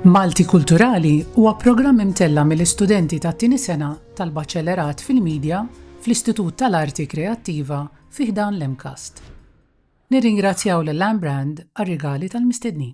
Malti Kulturali huwa programm imtella' mill-istudenti tat-tieni sena tal-Baċellerat fil-Media fl-Istitut tal-Arti Kreattiva fi ħdan l-MCAST. Nirringrazzjaw lil Anne Brand għar-rigali tal-mistednin.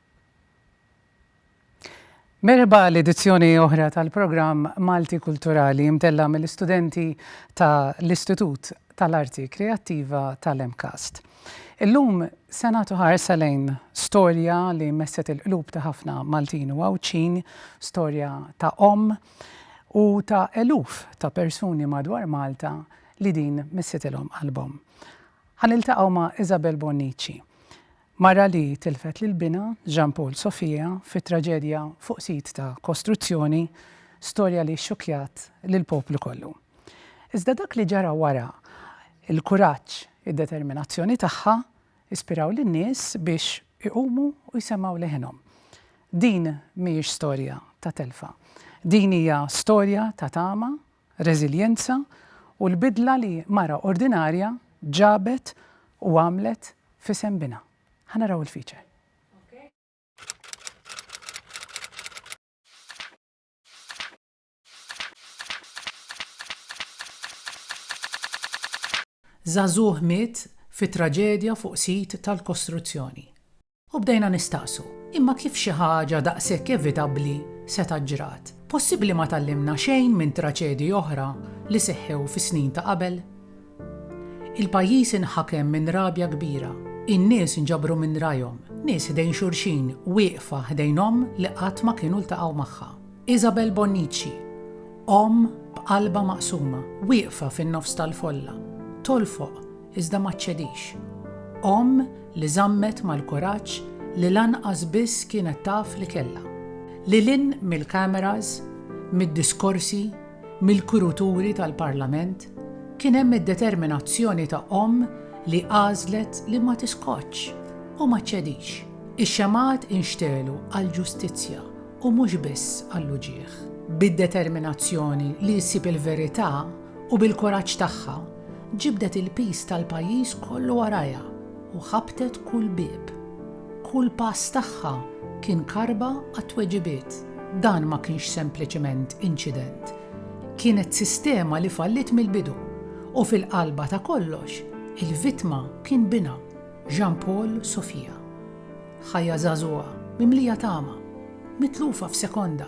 Merħba għal edizzjoni oħra tal-programm Malti Kulturali imtella mill-istudenti ta' l-Istitut tal-Arti Kreattiva tal-MCAST. Illum se nagħtu ħarsa lejn storja li messet il-qlub ta' ħafna Maltin u Għawdxin, storja ta' omm u ta' eluf ta' persuni madwar Malta li din messitilhom qalbhom. Ħa niltaqgħu ma' Isabel Bonnici. Mara li tilfet lil binha, Jean Paul Sofia, fi traġedja fuq sit ta' kostruzzjoni, storja li xxukkjat lill-poplu kollu. Iżda dak li ġara wara, il-kuraġġ, id-determinazzjoni tagħha, ispiraw lin-nies biex iqumu u jsemmgħu leħinhom. Din mhijiex storja ta' telfa. Din hija storja ta' tama reżiljenza u l-bidla li mara ordinarja ġabet u għamlet f'isem binha. Ħa naraw il-feature. Żagħżugħ miet fi traġedja fuq sit tal-kostruzzjoni. U bdejna nistaqsu, Imma kif xi ħaġa daqshekk evitabbli setgħet ġrat? Possibbli ma tgħallimna xejn minn traċedji oħra li seħħew fis-snin ta' qabel? Il-pajjiż inħakem minn rabja kbira. In-nies nġabru minn rajhom, nies ħdejn xulxin, wieqfa ħdejn omm li qatt ma kienu ltaqgħu magħha. Isabel Bonnici, omm b'qalbha maqsuma, wieqfa fin-nofs tal-folla, tolfoq iżda ma ċċedix. Omm li żammet mal-kuraġġ li lanqas biss kienet taf li kellha. Lil hinn mill-cameras, mid-diskorsi, mill-kuruturi tal-Parlament, kien hemm id-determinazzjoni ta' omm li għażlet li ma tiskotx u ma ċċedix. Ix-xemgħat inxtegħlu għall-ġustizzja u mhux biss għall-uġigħ. Bid-determinazzjoni li ssib il-verità, u bil-kuraġġ tagħha ġibdet il-piż tal-pajjiż kollu warajha u ħabtet kull bieb. Kull pass tagħha kien karba għat-tweġibiet. Dan ma kienx sempliċement inċident. Kienet sistema li falliet mill-bidu u fil-qalba ta' kollox il-vittma kien binha, Jean Paul Sofia. Ħajja żagħżugħa mimlija tama, mitlufa f'sekonda.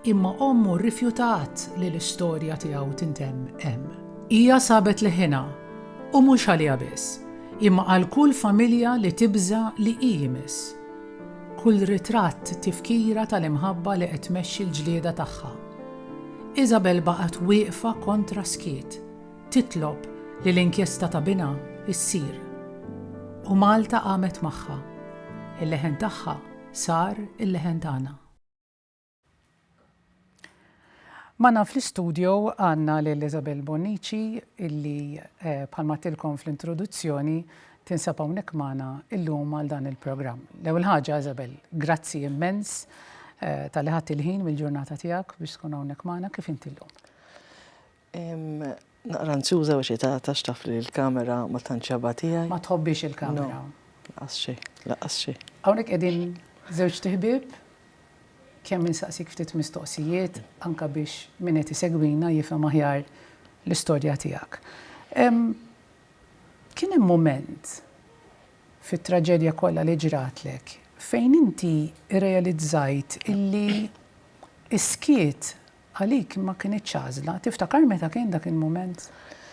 Imma ommu rrifjutat li l-istorja tiegħu tintemm hemm. Hija sabet leħinha, u mhux għaliha biss, imma għal kull familja li tibża' li hi jmiss. Kull ritratt tifkira tal-imħabba li qed tmexxi l-ġlieda tagħha. Isabel baqgħet wieqfa kontra skiet, titlob li l-inkjesta ta' binha ssir. U Malta qamet magħha. Il-leħen tagħha sar il-leħen tagħna. Magħna fl-istudio għandna lil Isabel Bonnici illi bħalma għedtilkom fl-introduzzjoni tinsab hawnhekk magħna llum għal dan il-programm. L-ewwel ħaġa Isabel, grazzi immens talli ħadt il-ħin mill-ġurnata tiegħek biex tkun hawnhekk magħna. Kif inti llum? Naqra anzjuża u xitata għax taf li l-kamera ma tantx ġabha tiegħi. Ma tħobbiex il-kamera. Lanqas xejn, lanqas xejn. Hawnhekk qegħdin żewġt iħbieb, kemm insaqsik ftit mistoqsijiet anke biex min qed isegwina jifhem aħjar l-istorja tiegħek. Kien hemm mument fit-traġedja kollha li ġratlek fejn inti rrealizzajt illi s-skiet Għalik ma kinitx għażla. Tiftakar meta kien dak il-mument?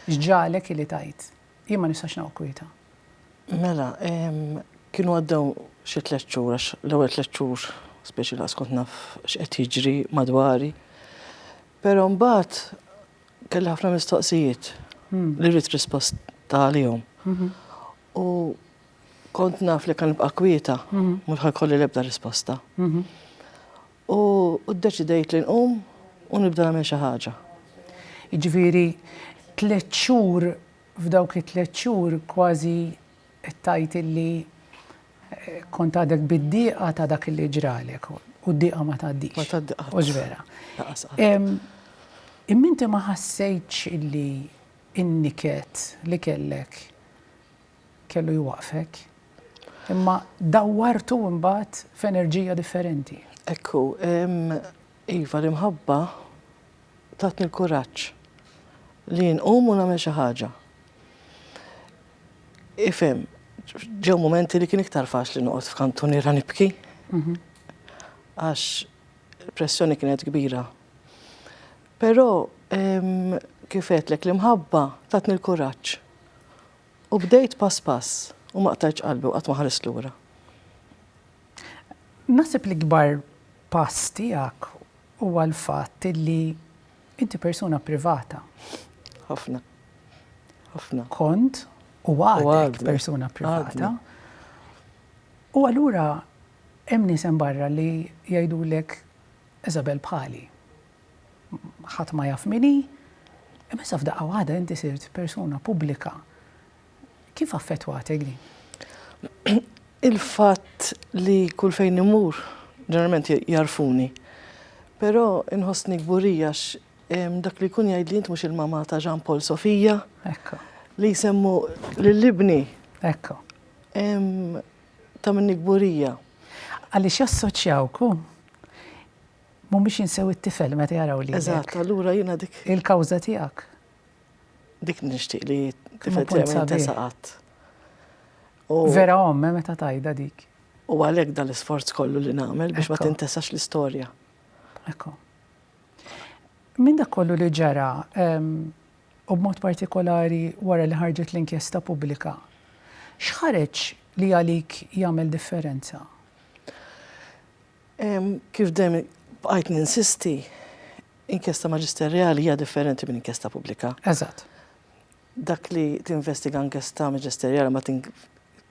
X'ġagħlek ili tgħid, Jien ma nistax noqgħod kwieta? Mela, kienu għaddew xi tliet xhur, għax l-ewwel tliet xhur speċi lanqas kont naf x'qed jiġri madwari. Però mbagħad kelli ħafna mistoqsijiet li rrid risposta għalihom. U kont naf li jekk ħa nibqa' kwieta, mhux ħa jkolli l-ebda risposta. U ddeċidejt li nqum u nibda nagħmel xi ħaġa. Jiġifieri tliet xhur, f'dawk it-tliet xhur kważi qed tgħid illi kont għadek bid-dieqa ta' dak illi ġralek. U d-dieqa ma tgħaddix. Ma tgħaddi qatt. Mhux vera. Lanqas qatt. Imma inti ma ħassejtx illi n-niket li kellek kellu jwaqqfek, imma dawwartu imbagħad f'enerġija differenti. Hekk hu. Iva, l-imħabba tatni l-kuraġġ li nqum u nagħmel xi ħaġa. Ifhem, ġew mumenti li kien iktar faċli noqgħod f'kantuniera nibki mhm. għax il-pressjoni kienet kbira. Però kif għedlek l-imħabba tatni l-kuraġġ U bdejt pass pass u ma qtajtx qalbi u qatt ma ħarist lura. Naħseb l-ikbar pass tiegħek huwa l-fatt li inti persuna privata. Ħafna. Ħafna. Kont u għadek persuna privata. U allura hemm nies hemm barra li jgħidulek Isabel bħali. ħadd ma jaf min hi, imma issa f'daqqa waħda inti sirt persuna pubblika. Kif affettwatek din? Il-fatt li kull fejn imur, ġeneralment jarfuni. Però inħossni kburija dak li jkun jgħid li int mhux il-mamà ta' Jean Paul Sofija. Ekka. Li jsemmu lill-ibni. Ekka. Ta' minni kburija. Għaliex jassoċjawku Mhumiex jinsew it-tifel meta jaraw lilek. Eżatt, allura jiena dik. Il-kawża tiegħek. Dik nixtieq li tifel tiegħi jintesa qatt. Vera omme eh, meta tajda dik. U għalhekk dan l-isforz kollu li nagħmel biex ma tintesax l-istorja. Ekku. Minn dak kollu li ġara, ehm, u b'mod partikolari wara li ħarġet l-inkjesta pubblika, xħareġ li għalik jagħmel differenza? Kif dejjem bqajt ninsisti, inkjesta maġisterjali hija differenti minn inkjesta pubblika. Eżatt. Dak li tinvestiga inkjesta maġisterjali ma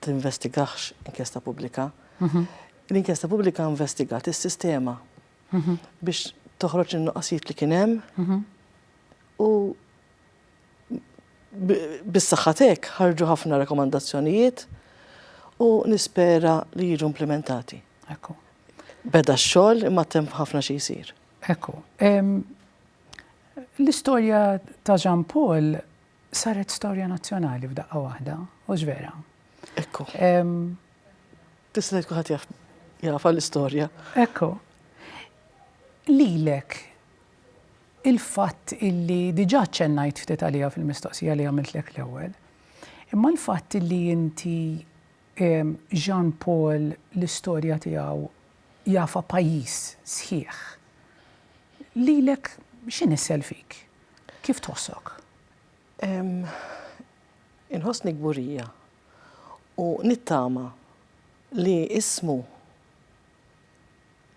tinvestigax inkjesta pubblika. Mhm. L-inkjesta pubblika investigat is-sistema mhm. biex toħroġ in-nuqqasijiet li kien hemm mhm. u bis-saħħa tiegħek ħarġu ħafna rakkomandazzjonijiet u nispera li jiġu implimentati. Ekku. Beda x-xogħol imma temp ħafna xi jsir. Ekku. L-istorja ta' Jean Paul saret storja nazzjonali f'daqqa waħda, u vera. Ekku. Tista' tkun ħadd jafa l-istorja. Ekku. Lilek il-fatt illi diġà aċċennajt ftit għaliha fil-mistoqsija li għamiltlek l-ewwel, imma l-fatt illi inti Jean Paul l-istorja tiegħu jafha pajjiż sħiħ, lilek x'inissel fik? Kif tħossok? Inħossni kburija u nittama li ismu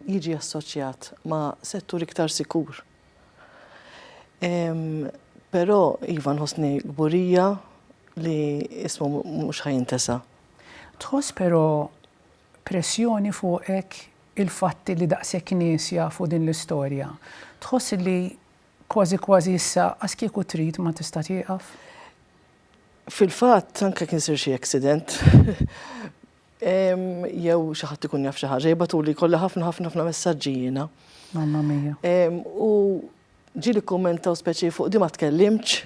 jiġi assoċjat ma' settur iktar sikur. Però iva nħossni kburija li ismu mhux ħa jintesa'. Tħoss però pressjoni fuqek il-fatt li daqshekk nies jafu din l-istorja? Tħoss li kważi kważi issa as kieku trid ma tista' tieqaf? Fil-fatt anke jekk isir xi accident, Jew xi ħadd ikun jaf xi ħaġa, jibgħatuli jkollha ħafna ħafna ħafna messaġġi jiena. Mamma mia. U ġieli kkummentaw speċi fuq di ma tkellimx.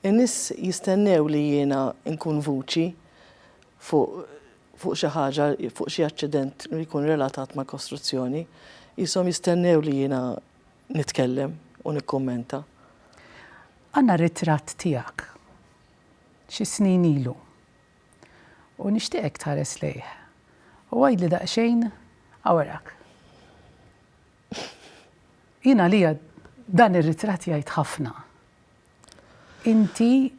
In-nies jistennew li jiena nkun vuċi fuq xi ħaġa, fuq xi aċċident li jkun relatat mal-kostruzzjoni. Qishom jistennew li jiena nitkellem u nikkummenta. Għandna ritratt tiegħek xi snin ilu. u nixtieqek tħares lejh u għidli daqsxejn awrak. Jien għalija dan ir-ritratt jgħid ħafna. Inti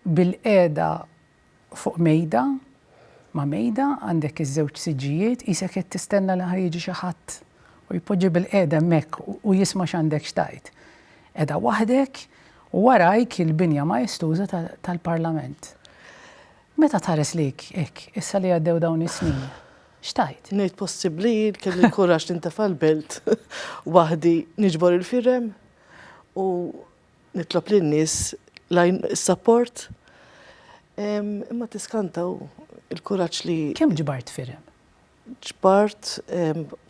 bilqiegħda fuq mejda ma' mejda għandek iż-żewġ siġġijiet qisek qed tistenna li ħa jiġi xi ħadd u jpoġġi bilqiegħda hemmhekk u jisma' x'għandek x'tgħid. Qiegħda waħdek u warajk il-binja maestuża tal-Parlament. Meta tħares lejk hekk, issa li għaddew dawn is-snin, x'tgħid? Ngħid possibbli jien kelli l-kuraġġ nintefa' l-belt waħdi niġbor il-firem u nitlob lin-nies is-sapport. Imma tiskanta u l-kuraġġ li. Kemm ġbart firem? Ġbart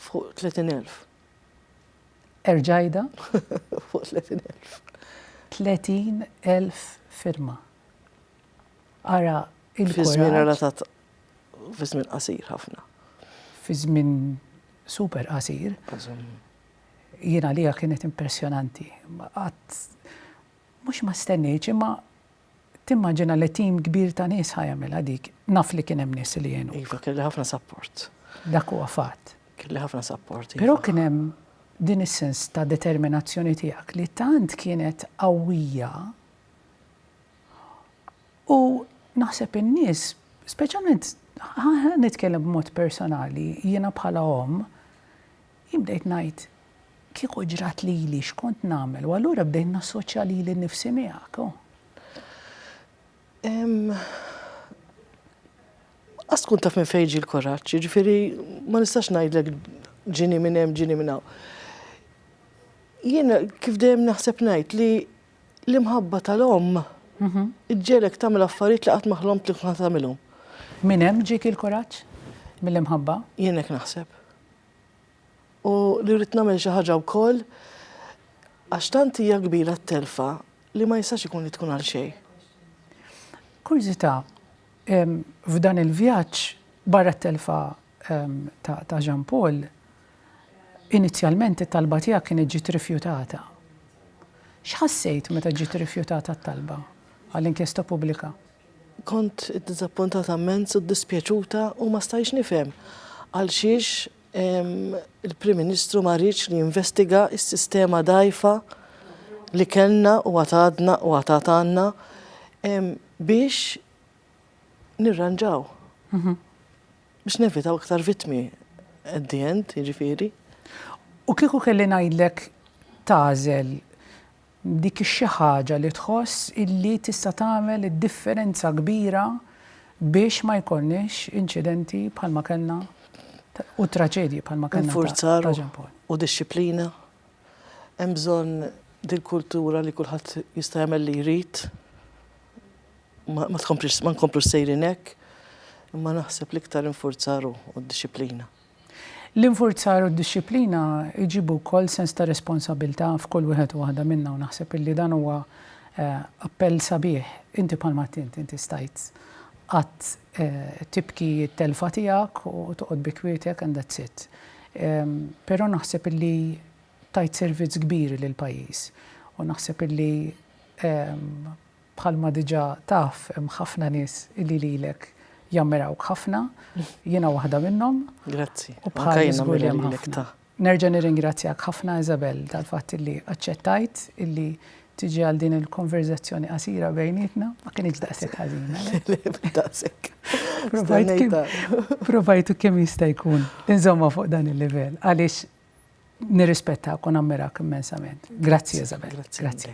fuq 30,000. Erġa' għidha. Fuq 30,000. 30,000 firma. Ara il-kuraġġ. Fi żmien relatat fi żmien qasir ħafna. Fi żmien super qasir. Jien għalija kienet impressjonanti. Qatt mhux ma stennejtx imma Timmaġina li tim kbir ta' nies ħa jagħmilha dik. Naf li kien hemm nies li għenuk. Iva, kelli ħafna sapport. Dak huwa fatt. Kelli ħafna sapport. Iva. Però kien hemm din is-sens ta' determinazzjoni tiegħek li tant kienet qawwija u naħseb in-nies, speċjalment nitkellem b'mod personali, jiena bħala omm, Jien bdejt ngħid, kieku ġrat lili x'kont nagħmel u allura bdejt nassoċja lili nnifsi miegħek. Qas tkun taf minn fejn ġie l-kuraġġ, jiġifieri ma nistax ngħidlek ġini minn hemm ġini minn hawn. Jien kif dejjem naħseb ngħid li l-imħabba tal-omm mhm. iġġelek tagħmel affarijiet li qatt ma ħlomt li kont tagħmilhom. Minn hemm ġiek il-kuraġġ mill-imħabba? Jien hekk naħseb. U li rrid nagħmel xi ħaġa wkoll għax tant hija kbira t-telfa li ma jistax ikun li tkun għal xejn. Kurżità, f'dan il-vjaġġ, barra t-telfa ta' Jean Paul, inizjalment it-talba tiegħek kienet ġiet rifjutata. X'ħassejt meta ġiet irrifjutata t-talba għal inkjesta pubblika? Kont iddiżappuntata mmens u ddispjaċuta u ma stajtx nifhem għalxiex il-Prim Ministru ma riedx li jinvestiga s-sistema dgħajfa li kellna u għad għadna u għad għad għandna biex nirranġaw, biex nevitaw iktar vittmi at the end, jiġifieri. U kieku kelli ngħidlek tagħżel Dik xi ħaġa li tħoss illi tista' tagħmel id-differenza kbira biex ma jkollniex inċidenti bħalma kellna u traġedji bħalma kellna ta' Infurzar ta' Jean Paul. u dixxiplina. Hemm bżonn din kultura li kulħadd jista' jagħmel li jrid. Ma ma tkomplix ma nkomplux sejrin hekk, imma naħseb l-iktar infurzar hu, u d-dixxiplina. L-infurzar u d-dixxiplina jġibu wkoll sens ta' responsabbiltà f'kull wieħed u waħda minna u naħseb illi dan huwa appell sabiħ. Inti bħal ma qed int, inti stajt qatt tibki t-telfa tiegħek u toqgħod bi kwietjek and that's it. Però naħseb illi tajt servizz kbir lill-pajjiż u naħseb illi Bħalma diġà taf hemm ħafna nies illi lilek jammirawk ħafna, jiena waħda minnhom. Grazzi. U bħali żgur li hemm ħafna. Nerġa' nirringrazzjak ħafna Isabelle tal-fatt illi aċċettajt illi tiġi għal din il-konverżazzjoni qasira bejnietna, ma kinitx daqshekk ħażina. Daqshekk. Provajtu kemm jista' jkun inżomma fuq dan il-livell għaliex nirrispettakom ammirak immensament. Grazzi Isabelle. Grazzi.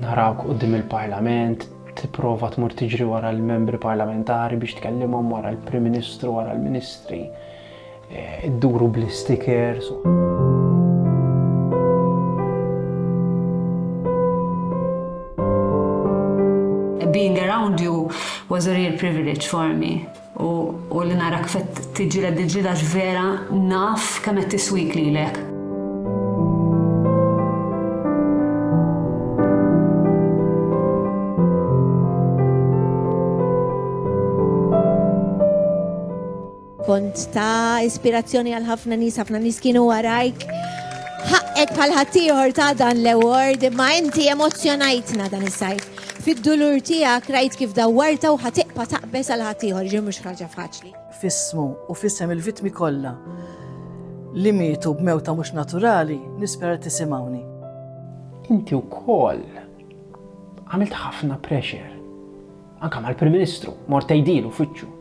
Narawk quddiem il-Parlament, tipprova tmur tiġri wara l-membri parlamentari biex tkellimhom wara l-Prim Ministru, wara l-Ministri, eh, idduru bl-istikers. Being around you was a real privilege for me. U li nara kif qed tiġġieled il-ġlieda għax vera naf kemm qed tiswik lilek. Kont ta' ispirazzjoni għal ħafna nies, ħafna nies kienu warajk. Ħaqqek bħal ħaddieħor ta' dan l-award, imma inti emozzjonajtna dan is-sajf. Fid-dulur tiegħek rajt kif dawwartha u ħa tiqpa' taqbeż għal ħaddieħor, jiġifieri mhux ħaġa faċli. F'ismu u f'isem il-vittmi kollha li mietu b'mewta mhux naturali, nispera li tisimgħuni. Inti wkoll għamilt ħafna pressure, anke mal-Prim Ministru, mort tgħidhielu f'wiċċu.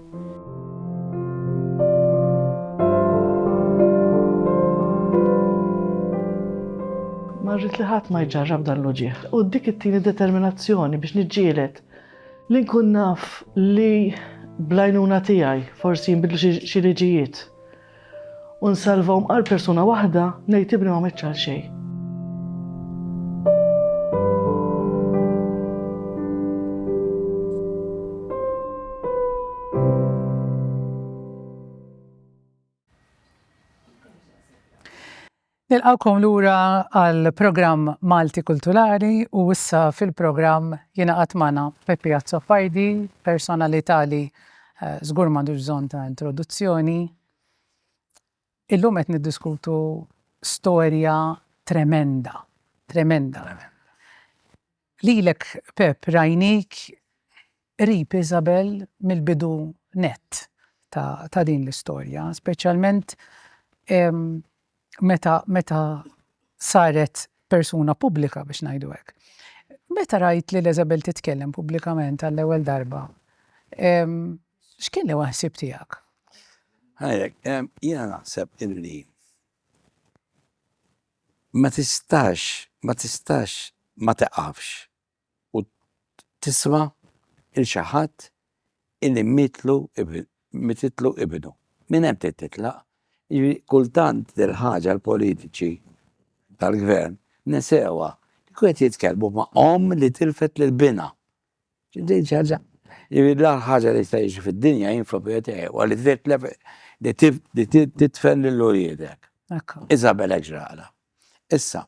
Marrit li ħadd ma jġarrab dan l-uġieħ. U dik it-tieni determinazzjoni biex niġġielet li nkun naf li blajnuna tiegħi forsi jinbidlu xi liġijiet U nsalvahom għal persuna waħda ngħid ibni ma mitx għal xejn. Nilqgħukom lura għall-programm Malti Kulturali u issa fil-programm jingħaqad magħna Peppi Azzopardi, personalità li żgur m'għandux bżonn ta' introduzzjoni. Illum qed niddiskutu storja tremenda, tremenda. Lilek Pepp rajnik qrib Isabel mill-bidu nett ta' din l-istorja, speċjalment meta meta saret persuna pubblika biex ngħidu hekk. Meta rajt lil Isabel titkellem pubblikament għall-ewwel darba, x'kien l-ewwel ħsieb tiegħek? Ngħidlek, jiena naħseb illi Ma tistax, ma tistax ma tiqafx u tisma' 'l xi ħadd illi mietlu, mititlu ibnu. Minn hemm trid titlaq. Jiġifieri kultant dil-ħaġa l-politiċi tal-Gvern nesewha. Kieku qed jitkellmu ma' omm li tilfet lil binha. Din xi ħaġa li l-aħħar ħaġa li jista' jiġri fid-dinja jien fl-opinjoni tiegħi huwa li titlef li titfen lil uliedek. Isabel hekk ġralha. Issa,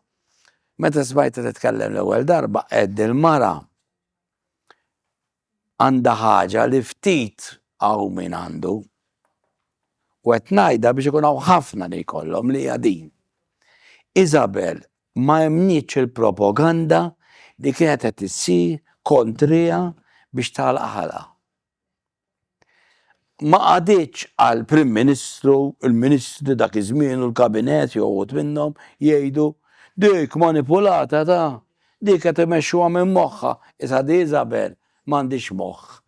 meta smajtha titkellem l-ewwel darba għedt din il-mara għandha ħaġa li ftit hawn min għandu u qed ngħidha biex ikun hawn ħafna li jkollhom li hija din. Isabel ma emmnietx il-propaganda li kienet qed issir kontriha biex tagħlaq ħalqha. Ma qagħditx għall-Prim Ministru, il-Ministri ta' dak iż-żmien u l-Kabinett jew uħud minnhom jgħidu, Dik manipulata ta', dik qed imexxuha minn moħħha, is-Sad Isabelle M'għandix moħħ.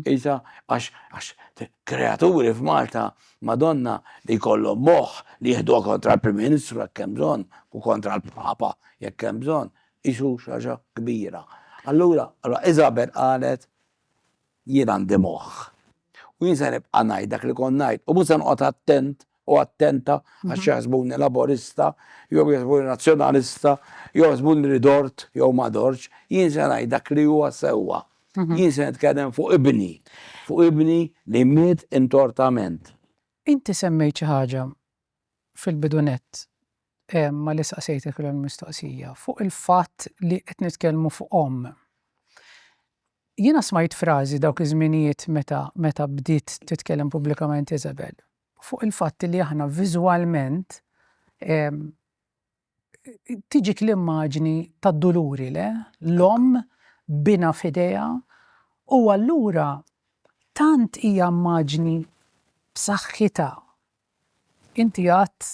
Qisha għax għax kreaturi f'Malta, Madonna, li jkollhom moħħ li jieħduha kontra l-Prim Ministru jekk hemm bżonn u kontra l-Papa jekk hemm bżonn, qisu xi ħaġa kbira. Allura, allura Isabel qalet, Jien għandi moħħ. U jien se nibqa' ngħid dak li kont ngħid u mhux se noqgħod attent u attenta għax jaħsbuni Laburista jew jaħsbuni Nazzjonalista jew jaħsbuni li dort jew ma dortx, jien se ngħid dak li huwa sewwa. Jien se nitkellem fuq ibni, fuq ibni li miet intortament. Inti semmejt xi ħaġa fil-bidu nett malli saqsejtek l-ewwel mistoqsija fuq il-fatt li qed nitkellmu fuq omm. Jiena smajt frażi dawk iż-żminijiet meta meta bdiet titkellem pubblikament Isabel. fuq il-fatt li aħna viżwalment tiġik l-immaġni tad-duluri, le? L-omm b'binha f'idejha u allura tant hija immaġni b'saħħitha. Inti għedt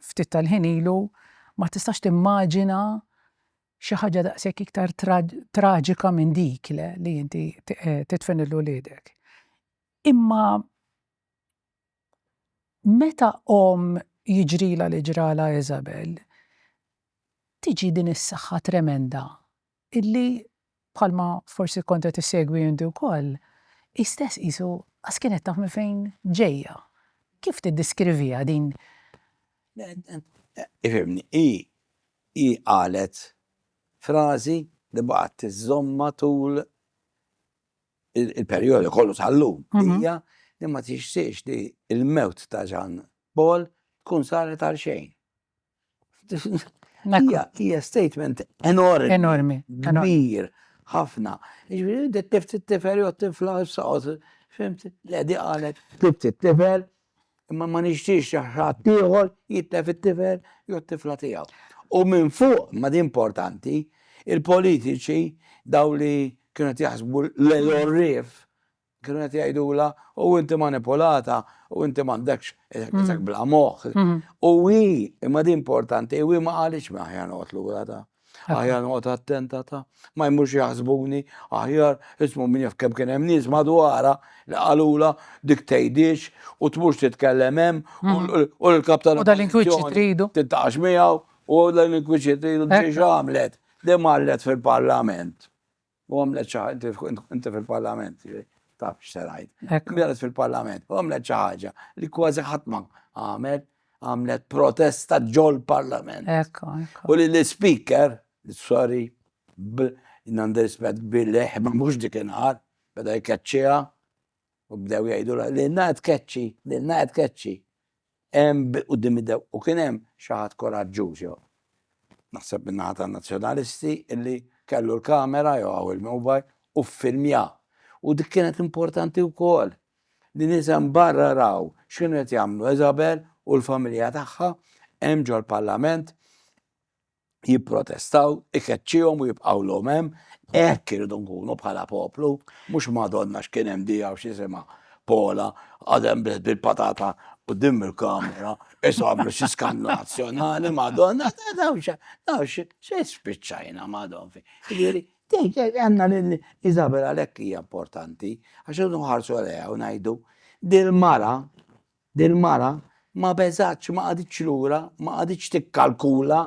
ftit tal-ħin ilu ma tistax timmaġina xi ħaġa daqshekk iktar traġika minn dik, le, li inti tidfen lil uliedek. Imma meta omm jiġrilha li ġralha Isabel, tiġi din is-saħħa tremenda illi, bħalma forsi kont qed issegwi inti wkoll, hi stess qisu qas kienet taf minn fejn ġejja. Kif tiddiskriviha din? Ifhimni, hi, hi qalet frażi li baqgħet iżżommha tul il-perjodu kollu tal-lum hija li ma tixtieqx li l-mewt ta' Ġan Paul tkun saret għal xejn. Hija statement enormi. Enormi. Kbir, ħafna. Ġifieri tifti t-tifel jew tifla saqgħod, fimt, l-qedi qalet, tifti t-tifel imma ma nixtiex li ħadd ieħor jitlef it-tifel jew t-tifla tiegħu. U minn fuq, ma din importanti, il-politiċi daw li kienu qed jaħsbu l-għorrief kienu qed jgħidulha u inti manipulata u inti m'għandekx isek bla moħħ. U hi, imma din importanti, u hi ma qalitx ma ħja noqgħod lura ta' Aħjar noqgħod attenta ta' ma jmurx jaħsbuni, aħjar ismu min jaf kemm kien hemm nies madwarha li qalulha dik tgħidix u tmurx titkellem hemm u l-kap tal-. U dal-inkwiċċi tridu. Tintaqax miegħu u dal-inkwiċċi tridu x'għamlet. Din marret fil-Parlament. U għamlet xi ħaġa, inti fil-Parlament, taf x'se ngħid. Għamlet fil-Parlament, u għamlet xi ħaġa li kważi ħadd ma għamel, għamlet protesta ġol-Parlament. U li l-Speaker, sorry, nandirrispett bil-leħ, ma mhux dik inqar, beda jkeċċiha, u bdew jgħidu li l-na tkeċċi, li l-na tkeċċi. Hemm quddiem id-dewq u kien hemm xi ħadd kuraġġuż jew naħseb min-naħa tan-Nazzjonalisti illi kellu l-kamera jew hawn il-mobile u ffilmja. U dik kienet importanti wkoll li nies hemm barra raw x'kienu qed jagħmlu Isabel u l-familja tagħha hemm ġol-Parlament. jipprotestaw, ikeċċihom u jibqgħulhom hemm, hekk irridu nkunu bħala poplu, mhux madonna x'kien hemm dija u x'isimha Pola għadem bil-patata u dim il-kamera, isamlu xi skannu nazzjonali, madonna, dawn xi spiċċajna madon fi. Jiġifieri, għandna lil Isabel għalhekk hija importanti, għax irridu nħarsu għaliha u ngħidu dil-mara Dil-mara ma beżgħetx, ma qagħditx lura, ma qagħditx tikkalkula,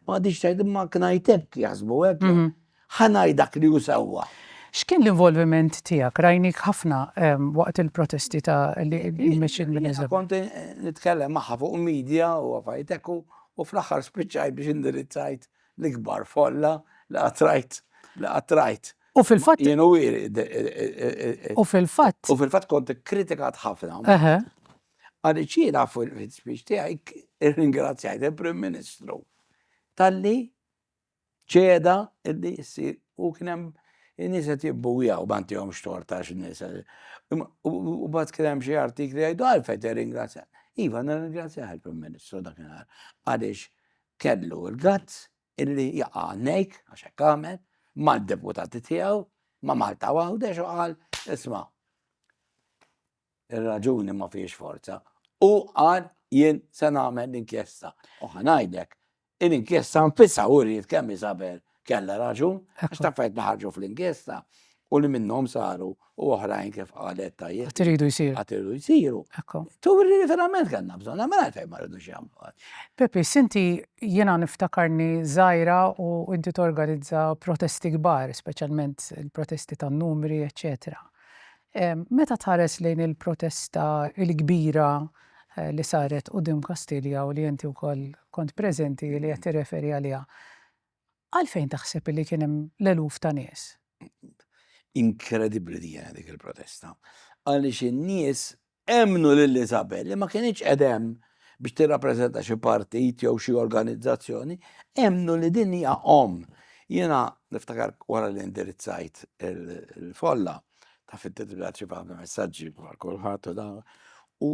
ma qagħditx tgħid imma ngħid hekk, jaħsbu hekk, ħa ngħid dak li hu sewwa. X'kien l-involviment tiegħek? Rajnik ħafna waqt il-protesti ta' li mexxiet minn Eżeb. Kont nitkellem magħha fuq media u affarijiet hekk u fl-aħħar spiċċajt biex indirizzajt l-ikbar folla li qatt rajt, li qatt rajt. U fil-fatt. Jien u wieri. U fil-fatt. U fil-fatt kont ikkritikat ħafna. Eħe. Għaliex jiena fil-speech tiegħi irringrazzjajt il-Prim Ministru talli ċeda illi jsir u kien hemm in-nies qed jibbujaw ma ntihomx tort għax in-nies. U mbagħad kien hemm xi artikli jgħidu għalfejn tirringrazzja. Iva nirringrazzjah il-Prim Ministru dakinhar għaliex kellu l-gazz illi jaqa' għannejk, għax hekk għamel, mad-deputati tiegħu, ma' Malta u Għawdex u qal, isma', ir-raġuni ma fihiex forza. U qal jien se nagħmel l-inkjesta. U ħa ngħidlek, l-inkjesta nfisha uriet kemm Isabel kellha raġun, għax taf fejn ħarġu fl-inkjesta, u li minnhom saru u oħrajn kif qalet tajjeb. Għad iridu jsiru. Għad iridu jsiru. Ekku. Turi li verament kellna bżonn, għamel mela għalfejn ma rridux jagħmlu għad. Pepi, sinti jiena niftakarni żgħira u inti torganizza protesti kbar, speċjalment il-protesti tan-numri, eċċetera. Ehm, meta tħares lejn il-protesta il-kbira eh, li saret u dim Kastilja u li inti wkoll kont preżenti li qed tirreferi għaliha, Għalfejn taħseb li kien hemm l-eluf ta' nies? Inkredibbli din dik il-protesta. Għaliex in-nies emmnu lil Isabel li ma kienx qed hemm biex tirrappreżenta xi partit jew xi organizzazzjoni, emmnu li din hija omm. Jiena niftakar wara li indirizzajt il-folla ta' fit-titbilat xi faham messaġġi bħal kulħadd u dan u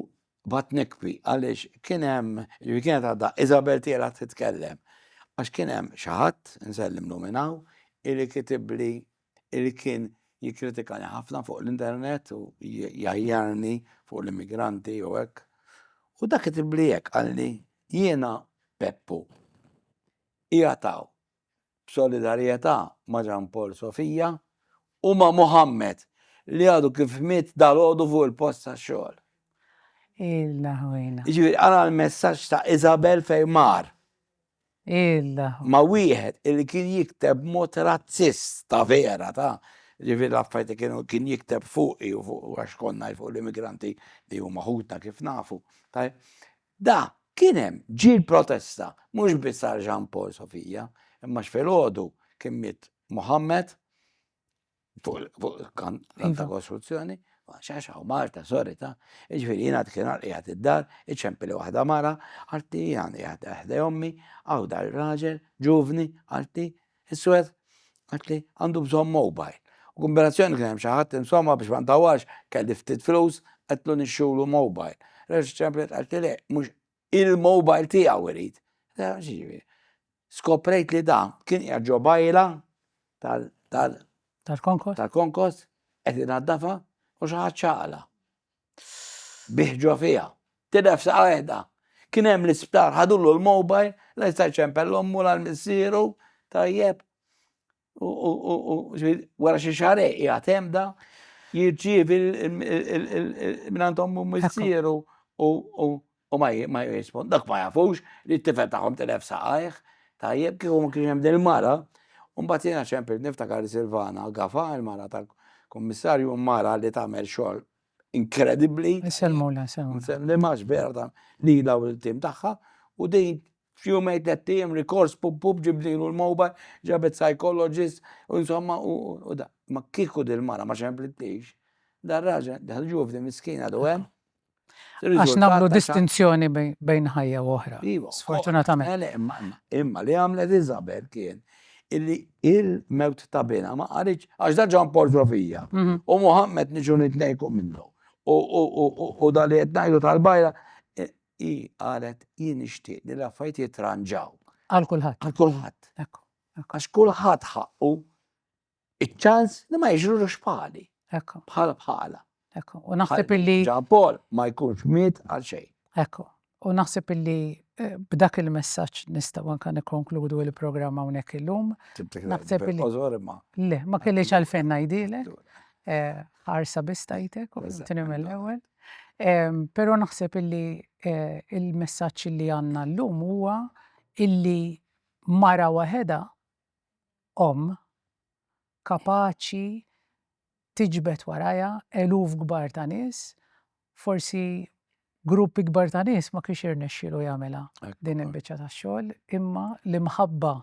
Baqgħet nikbi għaliex kien hemm, jiġifieri kienet għadha Isabel tielgħa titkellem, għax kien hemm xi ħadd, insellimlu minn hawn, illi kitibli illi kien jikkritikani ħafna fuq l-internet u jgħajjarni fuq l-immigranti u hekk. U dak kitibli hekk qalli jiena Peppu. Qiegħed hawn b'solidarjetà ma' Jean Paul Sofia u ma' Mohammed li għadu kif miet dalgħodu fuq il-post tax-xogħol. Ilha ħwejna. Jiġifieri qara l-messaġġ ta' Isabel fejn mar. Ilha ħwejna. Ma' wieħed illi kien jikteb b'mod razzist ta' vera ta', jiġifieri l-affarijiet li kienu kien jikteb fuqi u fuq għax konna fuq l-immigranti li huma ħutna kif nafu. Da, kien hemm, ġie l-protesta, mhux biss għal Jean Paul Sofia, imma x'filgħodu kien miet Mohammed fuq il-kant ta' kostruzzjoni, xax hawn Malta, sorry ta', jiġifieri jiena dik il-nhar qiegħed id-dar, iċempili waħda mara, qaltli jiena qiegħed ħdej ommi, hawn dar ir-raġel, ġuvni, qaltli, Is-Swed għedt li għandu bżonn mowbajl. U kumbinazzjoni li kien hemm xi ħadd, insomma, biex ma ntawwalx, kelli ftit flus, għedtlu nixtrulu mowbajl. Reġgħet ċemplet qaltli le, mhux il-mowbajl tiegħu irid. X'jiġifieri? Skoprejt li dan kien qiegħed ġo bajla tal, tal, Tal-konkos? tal-konkos, qed inaddafha u xi ħadd xagħalha. bih ġo fiha. Tinefsa waħedha. Kien hemm l-isptar, ħadulu l-mobile, la jista' jċempel l ommu la l-missieru, tajjeb. U wara xi xahar qiegħed hemm da, jirċievi minn ommu missieru u U ma jirrispond, dak ma jafux li t-tifel tagħhom tilef saqajh, tajjeb kieku ma kienx hemm din il-mara. U mbagħad jiena ċempil niftakar Silvana Gafa, il-mara tal-Kummissarju, mara li tagħmel xogħol inkredibbli. Nsellmulha, nsellmulha. Nsellimha għax vera ta' lilha u lill-tim tagħha u din f'jumejn tlett ijiem rikors pup pup ġibnielu l-mobile, ġabet psychologist u insomma u da. Ma kieku din il-mara ma ċemplitlix, dar-raġel, dal-ġuvni miskin għadu hemm. Għax nagħmlu distinzjoni bejn ħajja u oħra. Sfortunatament. Eh, imma li għamlet Isabel kien illi il-mewt ta' bina ma qaritx għax da ġan portrovija. Mhm. U Muhammed niġu nitnejku minnu. U da li qed ngħidu tal-bajra eh, i qalet jien nixtieq li l-affajt jitranġaw. Għal kulħadd. Għal kulħadd. Għax kulħadd ħaqqu Iċ-ċans li ma jiġrulux pali. Ekku. Bħala bħala. Ekku. U naħseb illi. Ġan Paul ma jkunx miet għal xejn. Ekku. U naħseb illi eh, b'dak il-messaġġ nistgħu anke nikkonkludu il-programm hawnhekk illum. Naħseb illi. Le, ma kellix għalfejn ngħidilek. Eh, ħarsa biss tajtek u tini mill-ewwel. Però naħseb illi eh, il-messaġġ li għandna llum huwa illi mara waħedha omm kapaċi tiġbed warajha eluf kbar ta' nies, forsi grupp ikbar ta' nies ma kienx irnexxielu jagħmilha din il-biċċa tax-xogħol, imma l-imħabba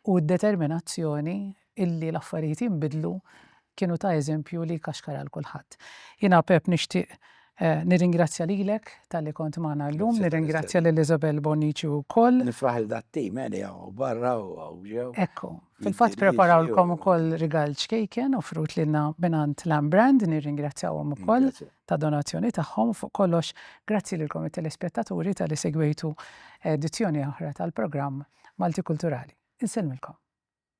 u d-determinazzjoni illi l-affarijiet jinbidlu kienu ta' eżempju li jkaxkar għal kulħadd. Jiena Pepp nixtieq nirringrazzja lilek talli kont magħna llum, nirringrazzja lil Isabel Bonnici wkoll. Nifraħ lil dat-tim li hawn barra u hawn ġew. Ekku, fil-fatt preparawlkom ukoll rigal ċkejken offrut lilna mingħand Lamb Brand, nirringrazzjahom ukoll tad-donazzjoni tagħhom. Fuq kollox, grazzi lilkom it-telespettaturi talli segwejtu edizzjoni oħra tal-programm Maltikulturali. Insellmilkom.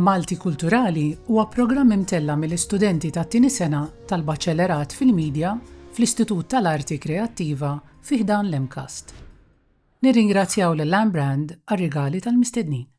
Malti Kulturali huwa programm imtella mill-istudenti tat-tieni sena tal-Baċellerat fil-Media fl-Istitut tal-Arti Kreattiva fi ħdan l-MCAST. Nirringrazzjaw lil Lambrand għar-rigali tal-mistednin.